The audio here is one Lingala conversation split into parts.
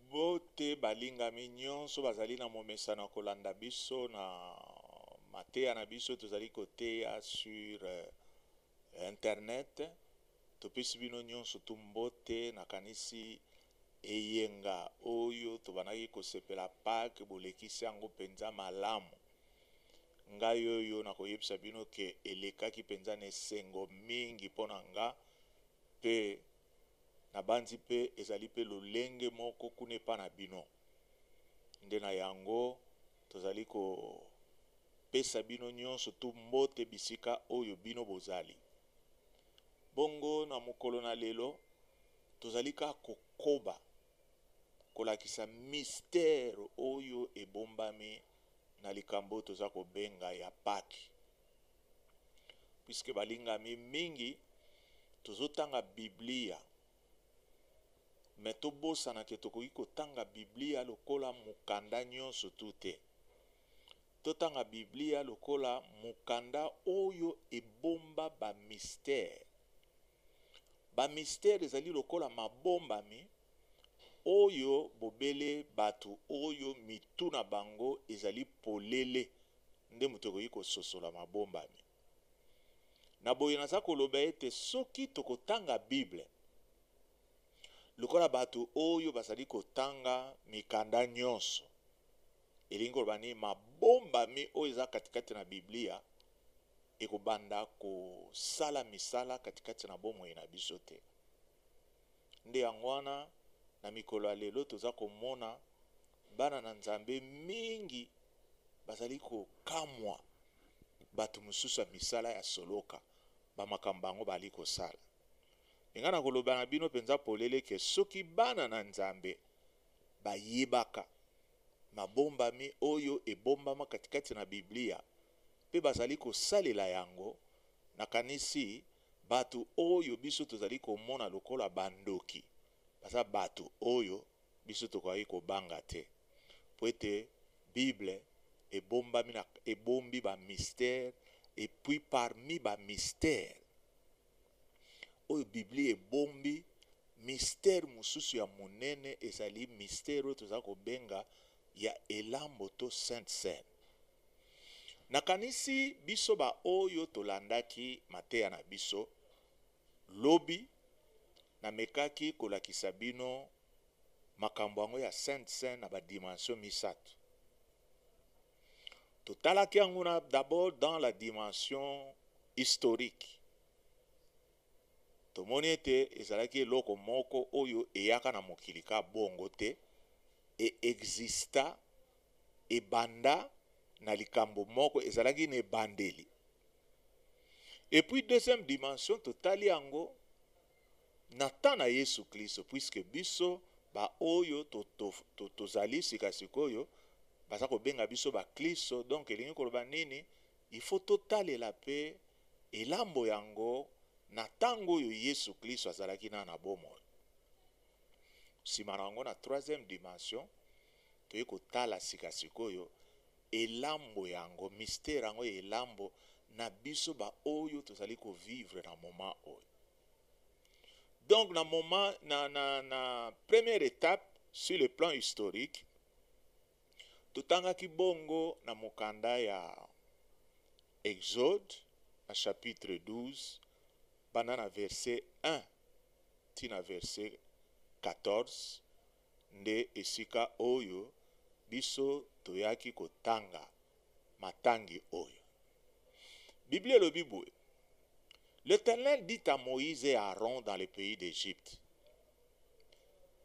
Mbote balingami nyonso bazali na momesano ya kolanda biso na mateya na biso tozali koteya sur internet. Topesi bino nyonso tu mbote, nakanisi eyenga oyo tobandaki kosepela Pake bolekisi yango mpenza malamu. Ngai oyo nakoyebisa bino ke elekaki mpenza na esengo mingi mpo na nga Mpe nabanzi, mpe ezali mpe lolenge moko kuna epai na bino, nde na yango tozali kopesa bino nyonso tu mbote bisika oyo bino bozali. Bongo, na mokolo na lelo, tozali kaka kokoba kolakisa mystère oyo ebombami na likambo oyo toza kobenga ya Paki. Puisque balingami mingi tozotanga Biblia me tobosana ke tokoki kotanga Biblia lokola mokanda nyonso tu te. Totanga Biblia lokola mokanda oyo ebomba ba mistere. Ba mistere ezali lokola mabombami oyo bobele bato oyo mitu na bango ezali polele nde moto ekoki kososola mabombami. Na boye naza koloba ete soki tokotanga Bible lokola bato oyo bazali kotanga mikanda nyonso, elingi koloba nini? Mabombami oyo eza katikati na Biblia ekobanda kosala misala katikati na bomoi na biso te. Nde yango wana na mikolo ya lelo toza komona Bana na Nzambe mingi bazali kokamwa bato mosusu ya misala ya soloka ba makambo bango baali kosala. Mpe ngai nakoloba na bino mpenza polele ke soki bana na Nzambe bayebaka mabombami oyo ebombama katikati na Biblia mpe bazali kosalela yango, nakanisi bato oyo biso tozali komona lokola bandoki baza bato oyo biso tokokaki kobanga te, mpo ete Bible ebombami na, ebombi ba mystères, et puis parmi ba mystères oyo Biblia ebombi, mystère mosusu ya monene ezali mystère oyo toza kobenga ya Elambo to Sainte Seine. Nakanisi biso ba oyo tolandaki mateya na biso, Lobi, namekaki kolakisa bino makambo yango ya Sainte Seine na ba dimensions misato. Totalaki yango na d'abord dans la dimension historique. Tomoni ete ezalaki eloko moko oyo eyaka na mokili ka bongo te, e exista ebanda na likambo moko ezalaki na ebandeli Et puis deuxième dimension totali yango na temps na Yesu Klisto puisque biso ba oyo tozali sika sikoyo baza kobenga biso ba Klisto donc elingi koloba nini il faut totalela pe elambo yango na ntango oyo Yesu Klisto azalaki na na bomoi nsima na yango na troisième dimension toyei kotala sika sikoyo Elambo yango, mystère yango ya elambo na biso ba oyo tozali ko vivre na moment oyo. Donc na moment na na na première etape sur le plan historique totangaki bongo na mokanda ya Exode na chapitre 12 banda na verset 1 ti na verset 14 nde esika oyo biso toyaki kotanga matangi oyo. Biblia elobi boye, L'Eternel dit à Moïse et à Aaron dans le pays d'Egypte,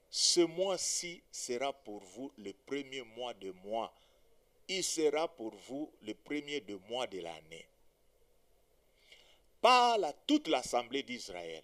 Ce mois-ci sera pour vous le premier mois de mois, il sera pour vous le premier de mois de l'annee. Parle à toute l'assemblée d'Israël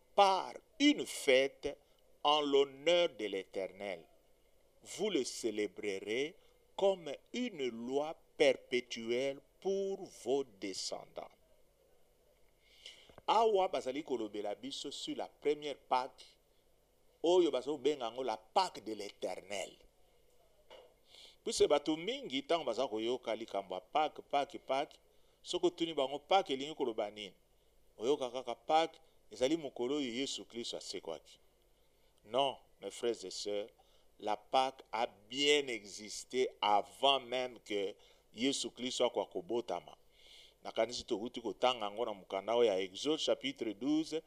par une fete en l'honneur de l'Eternel, vous le celebrerez comme une loi perpetuelle pour vos descendants. Awa bazali kolobela biso sur la première Pâque oyo bazo benga yango la Pâque de l'Eternel. Puisque bato mingi ntango baza koyoka likambo ya Pâque, Pâque, Pâque, soki otuni bango Pâque elingi koloba nini? oyoka kaka Paque ezali mokolo oyo yesu klisto asekwaki non mes frères et sœurs la Paque a bien existe avant meme que yesu klisto akoka kobotama nakanisi tokuti kotanga yango na mokanda oyo ya exode chapitre 12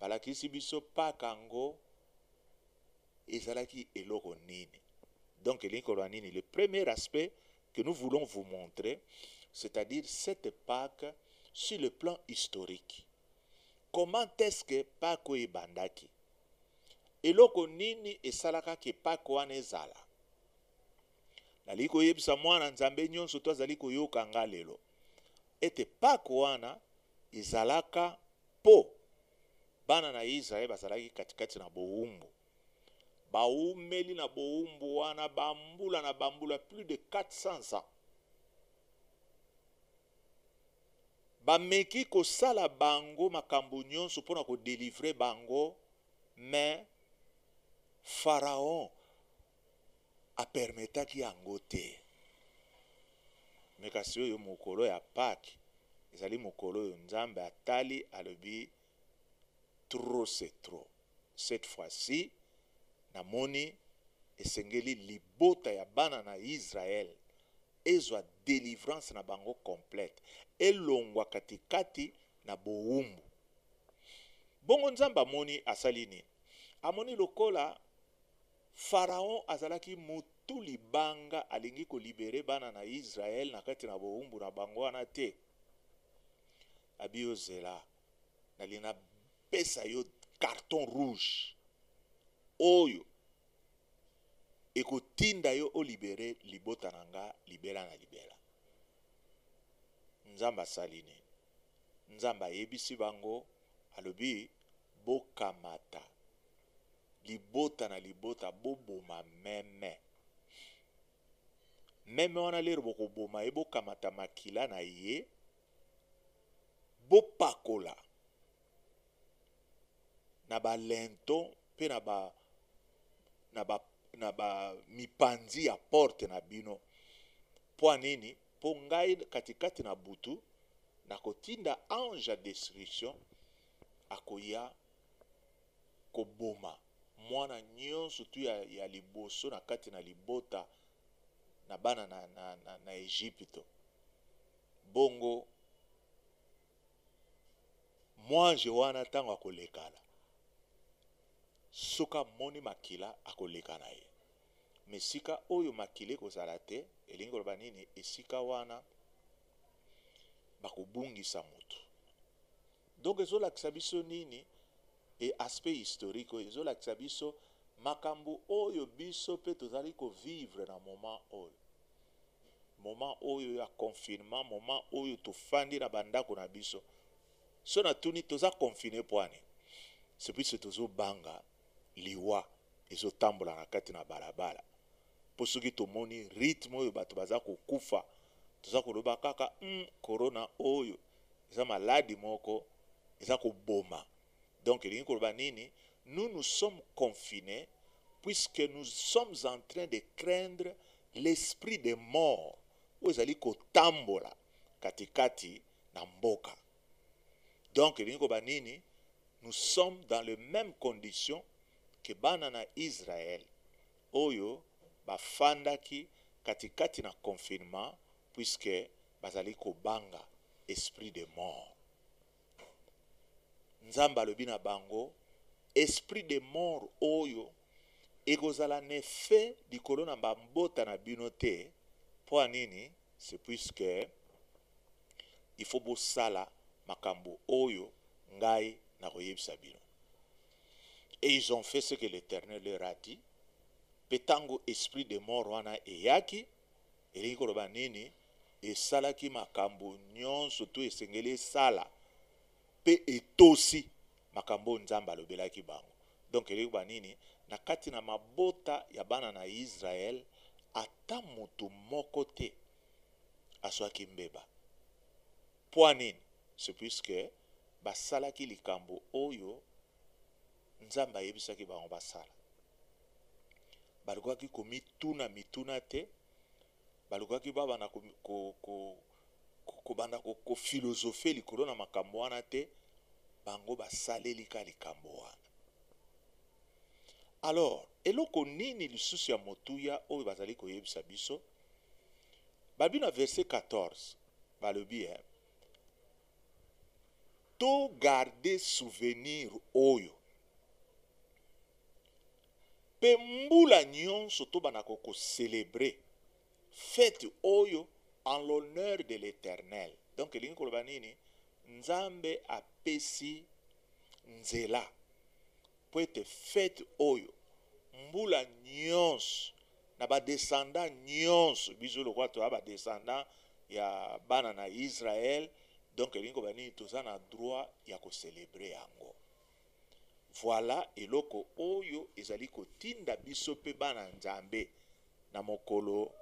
balakisi biso Paque yango ezalaki eloko nini donc elingi koloba nini le premier aspect que nous voulons vous montrer, c'est-à-dire cette Paque sur le plan historique. Comment est-ce que Paque oyo ebandaki? Eloko nini esalaka ke Paque wana ezala? Nalingi koyebisa mwana Nzambe nyonso to azali koyoka nga lelo ete Paque wana ezalaka po bana na Israël bazalaki katikati na bowumbu Baumeli na bowumbu wana bambula na bambula, plus de 400 ans. Bameki kosala bango makambo nyonso mpo na ko delivrer bango, mais Pharaon a permetaki yango te. Mais kasi oyo mokolo ya Paque, ezali mokolo oyo Nzambe atali, alobi, trop c'est trop cette fois ci na moni esengeli libota ya bana na Israël ezwa delivrance na bango complète elongwa katikati na bowumbu bongo Nzambe amoni asali nini amoni lokola Pharaon azalaki mutu libanga alingi ko libere bana na Israël na kati na bowumbu na bango wana te abi yo zela Nalingi napesa yo carton rouge oyo ekotinda yo olibere libota na nga libela na libela. Nzambe asali nini? Nzambe ayebisi bango, alobi bokamata libota na libota boboma meme. meme wana lero bokoboma ye bokamata makila na ye bopakola na balento mpe na ba na ba na ba mipanzi ya porte na bino mpo nini mpo ngai katikati na butu nakotinda ange ya destruction akoya koboma mwana nyonso tu ya, ya liboso na kati na libota na bana na, na, na, na Ejipito. Bongo mwanje wana ntango akolekana, soki amoni makila akoleka na ye. Mesika oyo makila ekozala te, elingi koloba nini? Esika wana bakobungisa moto Donc ezo lakisa biso nini e aspect historique oyo ezo lakisa biso makambu oyo biso pe tozali ko vivre na moment oyo moment oyo ya confinement moment oyo tofandi na ba ndaku na biso soki na tuni toza confine pua nini ce puisque tozo banga liwa ezo tambola na kati na balabala po soki tomoni rythme oyo batu baza kokufa toza koloba kaka hum corona oyo eza maladi moko eza koboma donc elingi koloba nini nous nous sommes confine puisque nous sommes en train de craindre l'esprit de mort oyo ezali kotambola katikati na mboka donc elingi koloba nini nous sommes dans le meme condition ke bana na israel oyo bafandaki katikati na confinement puisque bazali kobanga esprit de mort. Nzambe alobi na bango, Esprit de mort oyo ekozala na effet likolo na mabota na bino te. Mpo ya nini? C'est puisque il faut bosala makambo oyo ngai nakoyebisa bino. et ils ont fait ce que l'Eternel leur a dit, pe tango esprit de mort wana eyaki, elingi koloba nini? Esalaki makambo nyonso to esengeli esala pe etosi makambo oyo Nzambe alobelaki bango. Donc elingi koloba nini? Na kati na mabota ya bana na Israël, ata mutu moko te azwaki mbeba. Mpo nini? C'est puisque basalaki likambo oyo Nzambe ayebisaki bango basala. Balukaki komituna mituna te, balukaki babanda ko, ko, ko, ko, kobanda ko, ko philosophe likolo na makambo wana te, bango basaleli ka likambo wana. Alors, eloko nini lisusu ya motuya oyo bazali koyebisa biso? Babi na verset 14, Balobi eh to garder souvenir oyo pe mbula nionso tobanda ko ko celebrer fete oyo en l'honneur de l'Eternel. Donc elingi koloba nini? Nzambe apesi nzela Mpo ete feti oyo, mbula nyonso, na ba descendants nyonso, biso lokola toza ba descendants ya bana na Israël, donc elingi koloba nini? Toza na droit ya ko celebrer yango. Voilà eloko oyo ezali kotinda biso mpe bana ya Nzambe, na mokolo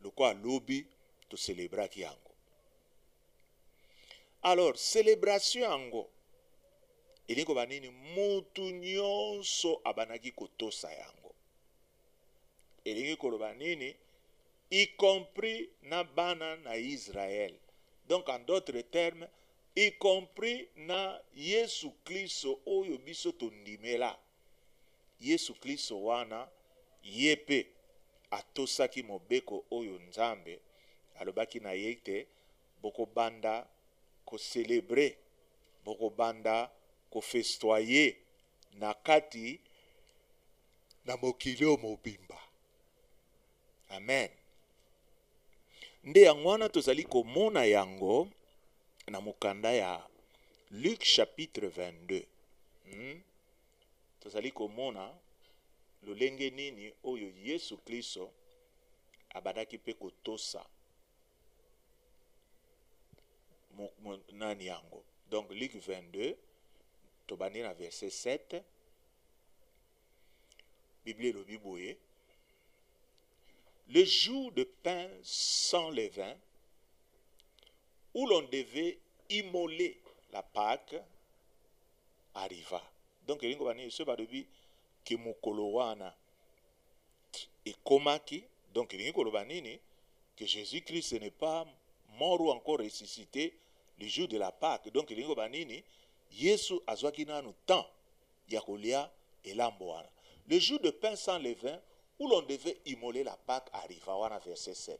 lokola lobi, to celebraki yango. alors celebration yango elingi koba nini mutu nyonso abandaki kotosa yango elingi koloba nini y compris na bana na Israël. Donc en d'autres termes, y compris na Yesu Klisto oyo biso tondimela. Yesu Klisto wana ye mpe atosaki mobeko oyo Nzambe alobaki na ye ete, Bokobanda ko celebrer, bokobanda ko festoyer na kati na mokili oyo mobimba. Amen. Nde yango wana tozali komona yango na mokanda ya Luc chapitre 22. Hmm? Tozali komona lolenge nini oyo Yesu Klisto abadaki mpe kotosa nani yango. Donc Luc 22 tobandi na verset 7 Biblia elobi boye le jour de pain sans levain, où l'on devait immoler la Pâque, arriva donc elingi koloba nini soki balobi ke mokolo wana ekomaki donc elingi koloba nini que jesus christ n'est pas mort ou encore ressuscité le jour de la pâque donc elingi koloba nini yesu azwaki nanu temps ya kolia elambo wana le jour de pain sans levain où l'on devait immoler la pâque arriva wana verset 7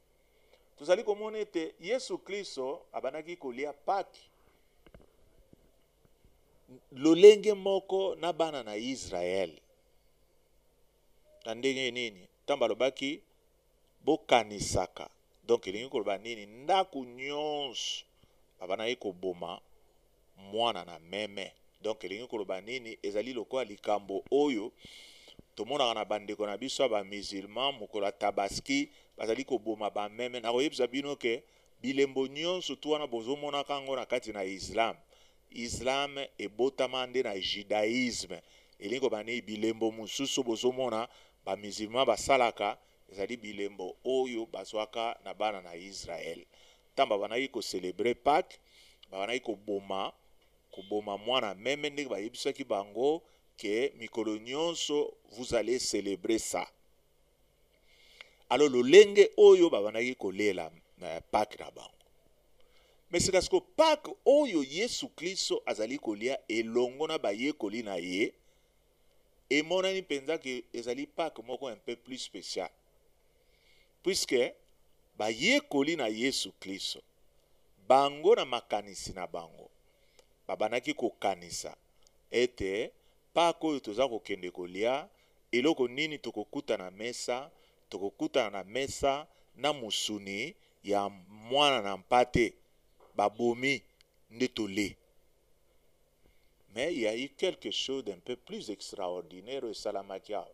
Tozali komona ete Yesu Klisto abandaki kolia Paki lolenge moko na bana na Yisraele. Na ndenge nini? Ntango alobaki bokanisaka, donk elingi koloba nini? Ndako nyonso abandaki koboma mwana na meme. Donc elingi koloba nini? Ezali lokola likambo oyo tomonaka na bandeko na biso ya ba musulmans mokolo ya tabaski bazali koboma ba meme. Nakoyebisa bino ke bilembo nionso tout wana bozomonaka yango na kati na islam, islam ebotama nde na judaisme. Elingi koloba nini? Bilembo mosusu oyo bozomona ba musulmans basalaka ezali bilembo oyo bazwaka na bana na israel. Ntango babandaki ko celebrer Paques, babandaki koboma, koboma mwana meme, ndenge bayebisaki bango que mikolo nionso vous allez celebrer ça. Alors lolenge oyo babandaki kolela eh, Paques na bango. Mais sika siko Paques oyo Yesu Klisto azali kolia elongo na bayekoli na ye, emonani mpenza que ezali Pâques moko un peu plus special puisque bayekoli na Yesu Klisto bango na makanisi na bango babandaki kokanisa ete Pâques oyo toza kokende kolia eloko nini tokokuta na mesa tokokutana na mesa na musuni ya mwana na mpate babomi nde tole Mais il y a eu quelque chose d'un peu plus extraordinaire oyo esalamaki awa.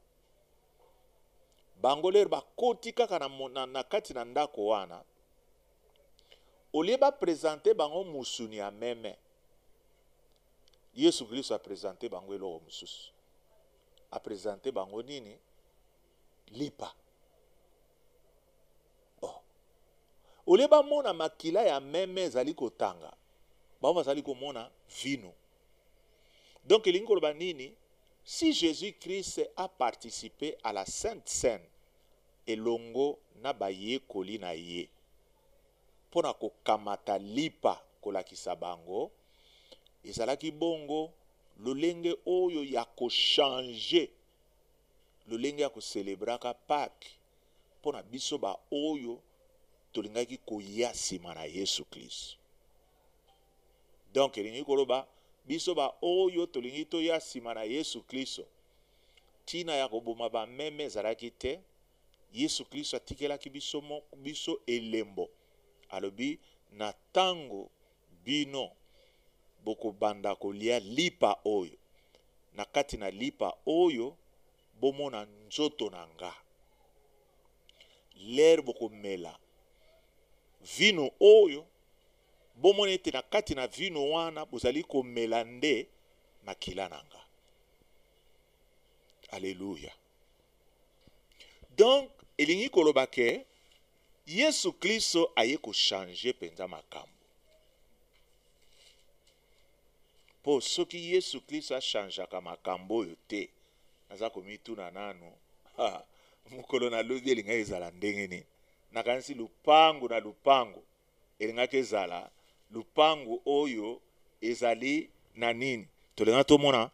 Bango lere bakoti kaka na, na, na kati na ndako wana, olie bapresente bango musuni ya meme, Yesu Kristo apresente bango eloko mosusu. Apresente bango nini? Lipa. Oh. Olie bamona makila ya meme ezali kotanga, bango bazali komona vino. Donc elingi koloba nini? Si Jesus Christ a participe à la Sainte Seine elongo na bayekoli na ye mpo na kokamata lipa kolakisa bango, ezalaki bongo lolenge oyo ya kochange lolenge ya ko celebraka Paque mpo na biso baoyo tolingaki koya sima na Yesu Klisto. Donc elingi koloba biso baoyo tolingi toya sima na Yesu Klisto, ntina ya koboma bameme ezalaki te. Yesu Klisto atikelaki biso moko biso elembo, alobi na tango Bino bokobanda kolia lipa oyo, na kati na lipa oyo bomona nzoto na nga. Lere bokomela vinu oyo, bomona ete na kati na vinu wana bozali komela nde makila na nga. Aleluya! Donc, elingi koloba ke Yesu Klisto aye ko changer mpenza makambo. Mpo soki Yesu Klisto a changeaka makambo oyo te, naza komituna nanu, ha, mokolo na lobi elingaki ezala ndenge nini? Nakanisi lupangu na lupangu Elingaki ezala lupangu oyo ezali na nini? Tolingaki tomona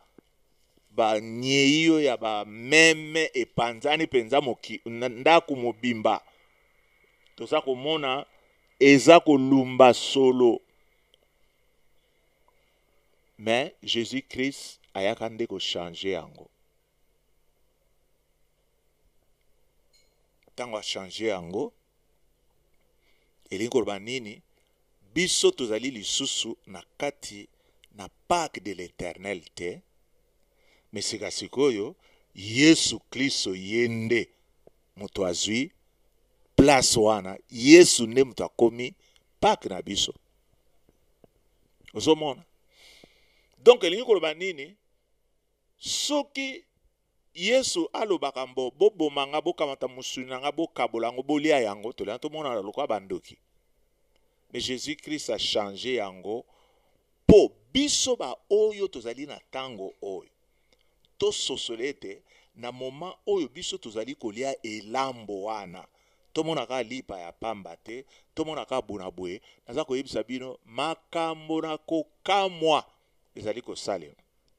ba nyeio ya ba meme epanzani penza moki ndaku mobimba. Toza komona eza kolumba solo. Mais Jesus Christ ayaka nde ko changer yango. ntango achange yango elingi koloba nini biso tozali lisusu na kati na parke de l'eternel te me sika sikoyo yesu klisto ye nde moto azwi place wana yesu nde moto akomi parke na biso ozomona donk elingi koloba nini Soki Yesu alobaka mbo, boboma nga, bokamata mosuni na nga, bokabola yango, bolia yango, tolya, tomonana lokola bandoki. Mais Jesus Christ a changer yango po biso ba oyo tozali na tango oyo tososola ete na moment oyo biso tozali kolia elambo wana tomona kaka lipa ya pamba te, tomona kaka bona boye. Naza koyebisa bino makambo na kokamwa ezali kosalema.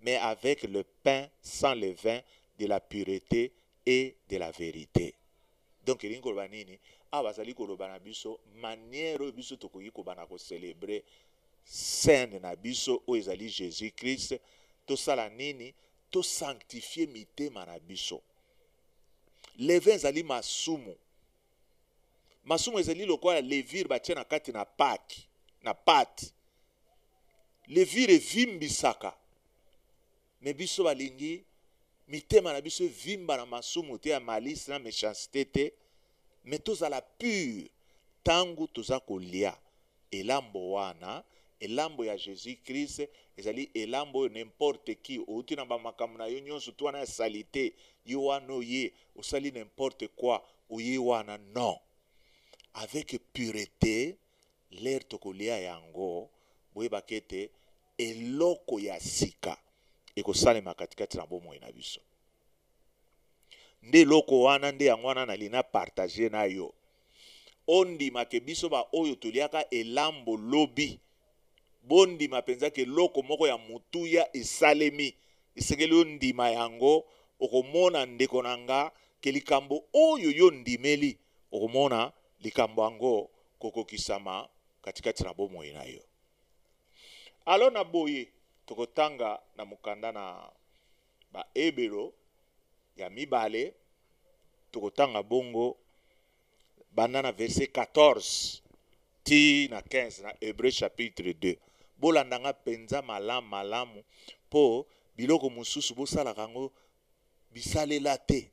mais avec le pain sans levain de la purete et de la verite. Donc elingi koloba nini? Awa bazali koloba na biso manière oyo biso tokoki kobanda ko celebrer scène na biso oyo ezali Jesus Christ, tosala nini? To sanctifier mitema na biso. Levain ezali masumu. Masumu ezali lokola levire batie na kati na paki na pate. Levire evimbisaka, me biso balingi mitema na biso evimba na masumu te ya malice na mechancete te, me tozala pure ntango toza kolia. Elambo wana, Elambo ya Jesus-Christ, ezali Elambo oyo n'importe qui, outi na ba makambo na yo nionso, tout wana ya salite, yo wana oye, osali n'importe quoi, oye wana, non! Avec purete, l'heure tokolia yango, boyeba k'ete eloko ya sika ekosalema katikati na bomoi na biso. Nde eloko wana, nde yango wana nalingi na partager na yo. ondima ke biso ba oyo toliaka elambo lobi, bondima penza ke eloko moko ya motuya esalemi, esengeli ondima yango, okomona ndeko na nga ke likambo oyo yo ondimeli, okomona likambo yango kokokisama katikati na bomoi na yo. Alors na boye, tokotanga na mokanda na. Baebelo ya mibale, tokotanga bongo banda na verse 14 ti na 15 na Hebreu chapitre 2. Bolanda nga mpenza malamu malamu, mpo biloko mosusu bosalaka yango bisalela te.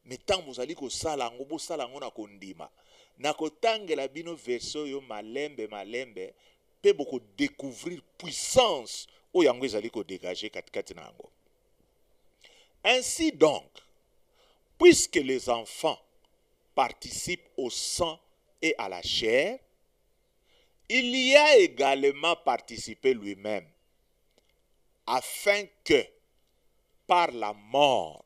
Mais tango bozali kosala yango, bosala yango na kondima. Nakotangela bino verse oyo malembe malembe mpe boko decouvrir puissance oyo yango ezali ko degager katikati na yango. Ainsi donc, puisque les enfants participent au sang et à la chair, il y a également participé lui-même, afin que par la mort,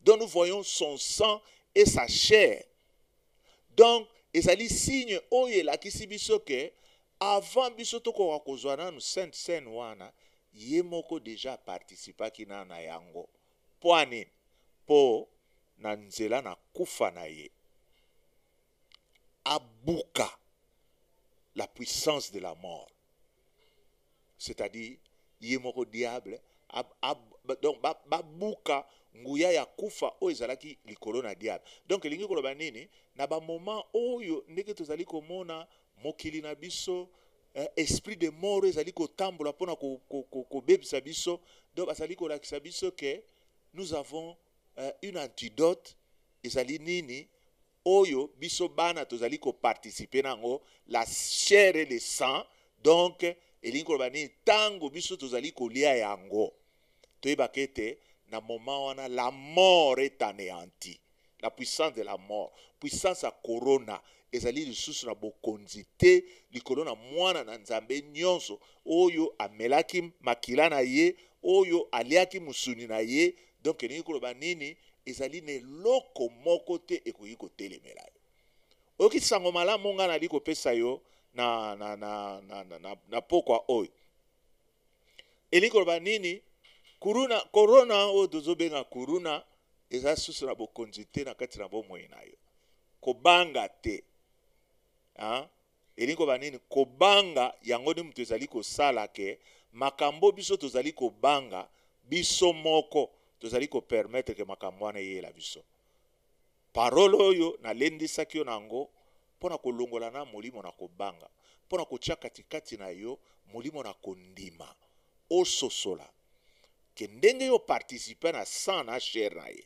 dont nous voyons son sang et sa chair. Donc, ezali signe oyo elakisi biso que avant biso tokoka kozwa nanu sainte seine wana ye moko deja aparticipaki nanu na yango mpo anini mpo na nzela na kufa na ye abuka la puissance de la mort c'est à dire ye moko diable a, a, donc babuka ba nguya ya kufa oyo ezalaki likolo na diable donc elingi koloba nini na bamoment oyo ndenge tozali komona mokili na biso eh, esprit de mort ezali kotambola mpona kobebisa ko, ko, ko biso donc bazali kolakisa biso ke nous avons eh, une antidote ezali nini oyo biso bana tozali ko participer na yango la chair et le sang donc elingi koloba nini ntango biso tozali kolia yango toyebaka ete na moment wana la mort est aneanti la puissance de la mort puissance ya corona ezali lisusu na bokonzi te likolo na mwana na nzambe nyonso oyo amelaki makila na ye oyo aliaki mosuni na ye Donc elingi koloba nini? Ezali na eloko moko te ekoki kotelemela yo. Oyoki sango malamu ngai nali kopesa yo na, na, na, na, na, na, na pokwa oyo. Elingi koloba nini? Kuruna, korona oyo tozobenga kuruna eza susu na bokonzi te na kati na bomoi na yo. Kobanga te. Hein? Elingi koloba nini? Kobanga yango nde moto ezali kosala ke makambo biso tozali kobanga biso moko tozali ko permettre ke makambo wana eyela biso. Parole oyo nalendisaki yo na yango mpo na kolongola na molimo na kobanga, mpo na kotia katikati na yo molimo na kondima, ososola ke ndenge yo participe na sang na chair na ye,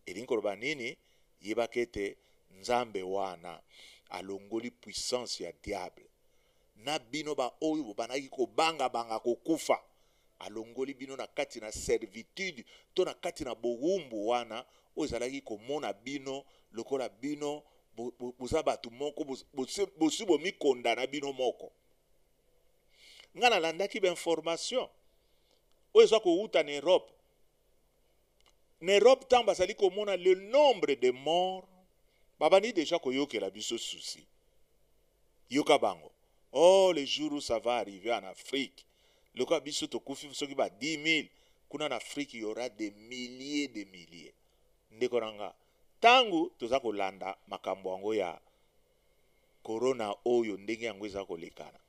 elingi koloba nini? Yebaka ete Nzambe wana alongoli puissance ya diable na bino ba oyo bobandaki kobanga banga kokufa alongoli bino na kati na servitude to na kati na bowumbu wana oyo ezalaki komona bino lokola bino boza batu moko bosi bomikonda na bino moko nga nalandaki ba information oyo eza kowuta na Europe na Europe ntango bazali komona le nombre de morts babandi deja koyokela biso susi yoka bango oh le jour où ça va arriver en Afrique lokola biso tokufi soki ba 10 000 kuna na Afrique y aura des milliers de milliers ndeko na nga ntango toza kolanda makambo yango ya corona oyo ndenge yango eza kolekana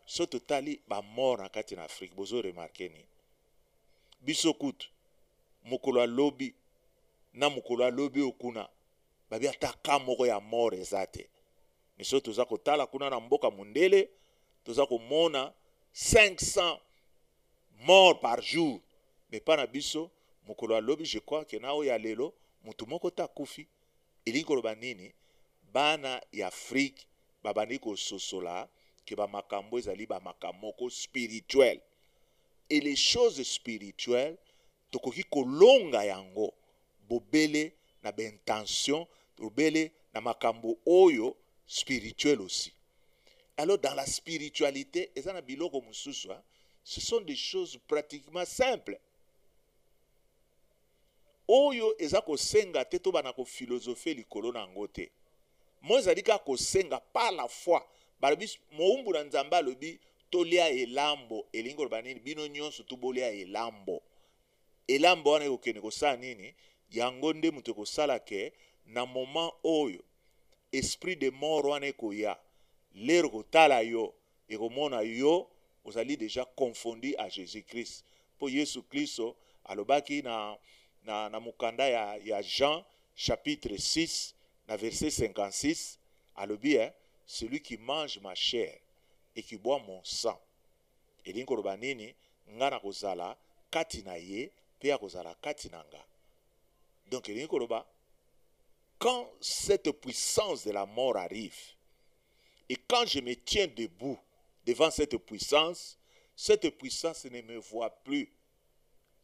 so totali bamort na kati na Afrique bozo remarke nini biso kutu mokolo ya lobi na mokolo ya lobi oyo kuna babi ata ka moko ya mort eza te miso toza kotala kuna na mboka mondele toza komona 500 mort par jour mais pa na biso mokolo ya lobi je crois ke na oyo ya lelo motu moko te akufi elingi koloba nini bana ya afrike babandi kososola ke bamakambo ezali bamakambo moko spirituel et les choses spirituelles tokoki kolonga yango bobele na ba intentions bobele na makambo oyo spirituel aussi alors dans la spiritualite eza na biloko mosusu ce sont des choses pratiquement simples oyo eza kosenga te to banda ko philosopher likolo na yango te moi ezali kaka kosenga par la foi balobi mowumbu na nzambe alobi tolia elambo elingi koloba nini bino nyonso tu bolia elambo elambo wana ekokende kosala nini yango nde moto ekosala ke na moment oyo esprit de mort wana ekoya lero kotala yo ekomona yo ozali deja confondu à Jesus Christ mpo Yesu Klisto alobaki na, na, na mokanda ya, ya Jean chapitre 6 na verset 56 alobi eh, celui qui mange ma chair et qui boit mon sang elingi koloba nini? Nga nakozala kati na ye mpe akozala kati na nga. Donc elingi koloba quand cette puissance de la mort arrive et quand je me tiens debout devant cette puissance, cette puissance ne me voit plus,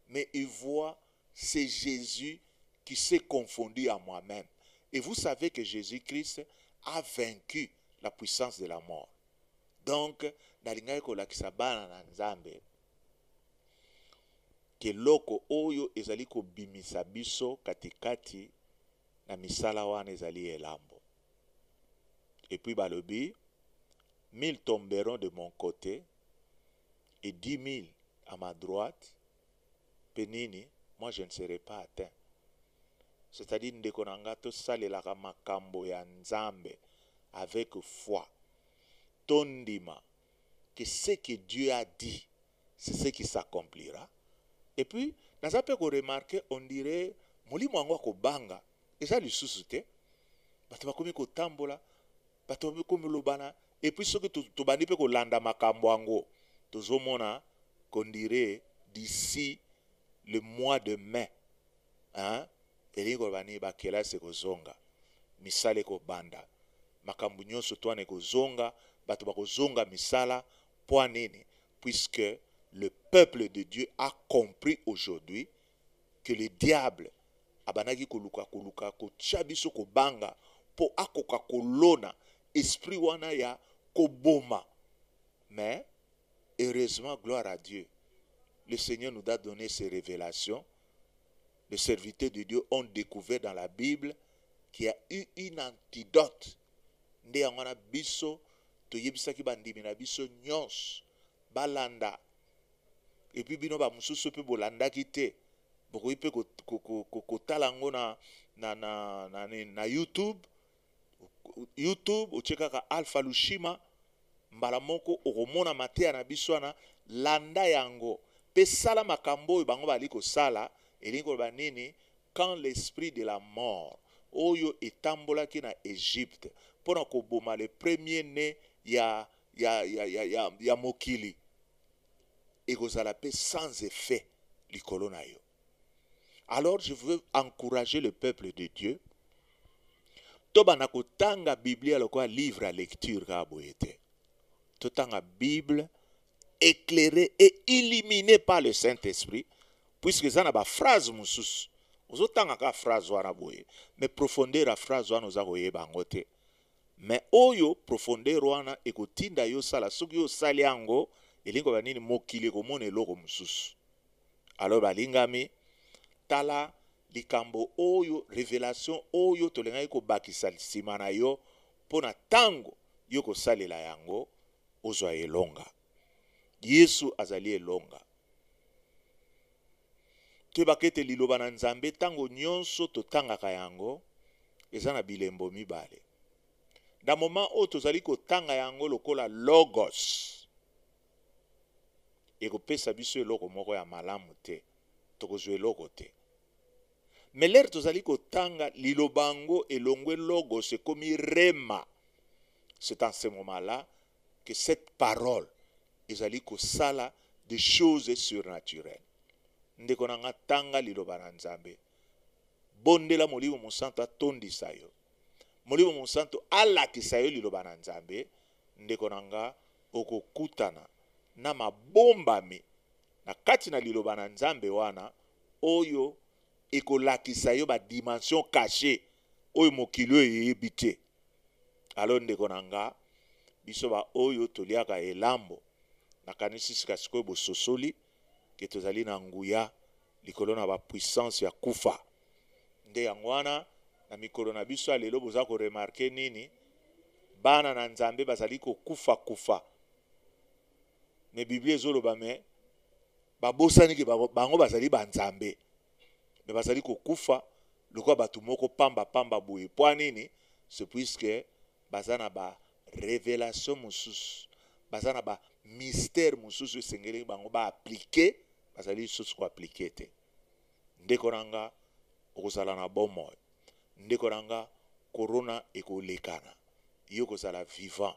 mais il voit c'est Jésus qui s'est confondu à moi-même. Et vous savez que Jésus-Christ a vaincu la puissance de la mort. Donc, nalingaki kolakisa bana na Nzambe keloko oyo ezali kobimisa biso katikati na misala wana ezali elambo. et puis balobi mille tomberont de mon cote et dix mille à ma droite pe nini moi je ne serai pas atteint c'est à dire ndeko na nga tosalelaka makambo ya nzambe avec foi tondima que ce que Dieu a dit c'est ce qui s'accomplira et puis naza pe ko remarquer on dirait molimo yango ya kobanga eza lisusu te bato bakomi kotambola bato bakomi lobana et puis soki tobandi pe kolanda makambo yango tozomona qu'on dirait d'ici le mois de mai hein? elingi koloba nini bakelasi ekozonga misala ekobanda makambo nyonso twana ekozonga bato bakozonga misala Pwa nini? Puisque le peuple de Dieu a compris aujourd'hui que le diable abandaki koluka koluka kotia biso kobanga mpo akoka kolona esprit wana ya koboma mais heureusement gloire à Dieu le Seigneur nous a donné ces révélations les serviteurs de Dieu ont découvert dans la Bible qu'il y a eu une antidote Nde yango wana biso toyebisaki bandimi na biso nyonso balanda, epuis bino bamosusu mpe bolandaki te, bokoki mpe kotala yango na, na, na, na, na YouTube. YouTube otie kaka Alpha Lushima, mbala moko okomona mateya na biso wana. Landa yango mpe sala makambo oyo bango bazali kosala. Elingi koloba nini? Quand l'esprit de la mort oyo etambolaki na Egypte mpo na koboma le premier ne ya, ya, ya, ya, ya, ya mokili ekozala mpe sans effet likolo na yo. Alors je veux encourager le peuple de Dieu tobanda kotanga biblia lokola livre ya lecture kaka boye te totanga bible éclairé et illuminé par le saint-esprit puisque eza na ba phrase mosusu ozotanga kaka phrase wana boye mais profondeur ya phrase wana oza koyeba yango te mais oyo profondeur wana ekotinda yo osala soki yo osali yango elingi koloba nini mokili ekomona eloko mosusu alors balingami tala likambo oyo revelation oyo tolingaki kobakisa nsima na yo mpo na ntango yo kosalela yango ozwa elonga Yesu azali elonga. Toyebaka ete liloba na Nzambe ntango nyonso totangaka yango eza na bilembo mibale. Na moma oyo tozali kotanga yango lokola logos, ekopesa biso eloko moko ya malamu te, tokozwa eloko te. Mais lere tozali kotanga liloba yango elongwe logos ekomi rhema. C'est en ce moment là que cette parole ezali kosala de choses surnaturelles. Ndeko na nga tanga liloba na Nzambe. Bondela Molimo Mosanto atondisa yo. Molimo Mosanto alakisa yo liloba na Nzambe, ndeko na nga okokutana na mabombami na kati na Liloba na Nzambe wana oyo ekolakisa yo ba dimensions cachees oyo mokili oyo eyebi te. Alors ndeko na nga, biso ba oyo toliaka elambo, nakanisi sika sikoyo bososoli ke tozali na nguya likolo na ba puissance ya kufa. Nde yango wana na mikolo na biso ya lelo boza ko remarquer nini? Bana na Nzambe bazali kokufa kufa. mais biblia ezoloba mais babosani ke bango bazali banzambe mais bazali kokufa lokola bato moko pamba pamba boye mpo nini ce puisque baza na ba revelation mosusu baza na ba mystère mosusu esengeli bango baaplike bazali lisusu koaplike te ndeko na nga okozala na bomoi ndeko na nga korona ekolekana yo kozala vivant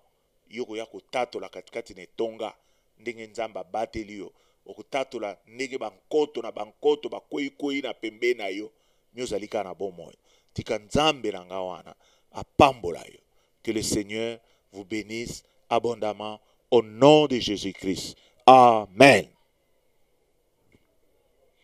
Yo okoya kotatola katikati na etonga ndenge Nzambe abateli yo, okotatola ndenge bankoto na bankoto bakwei-kwei na pembeni na yo, mais ozali kaka na bomoi. Tika Nzambe na ngai wana apambola yo. Que le Seigneur vous benisse abondamment au nom de Jesus-Christ. Amen.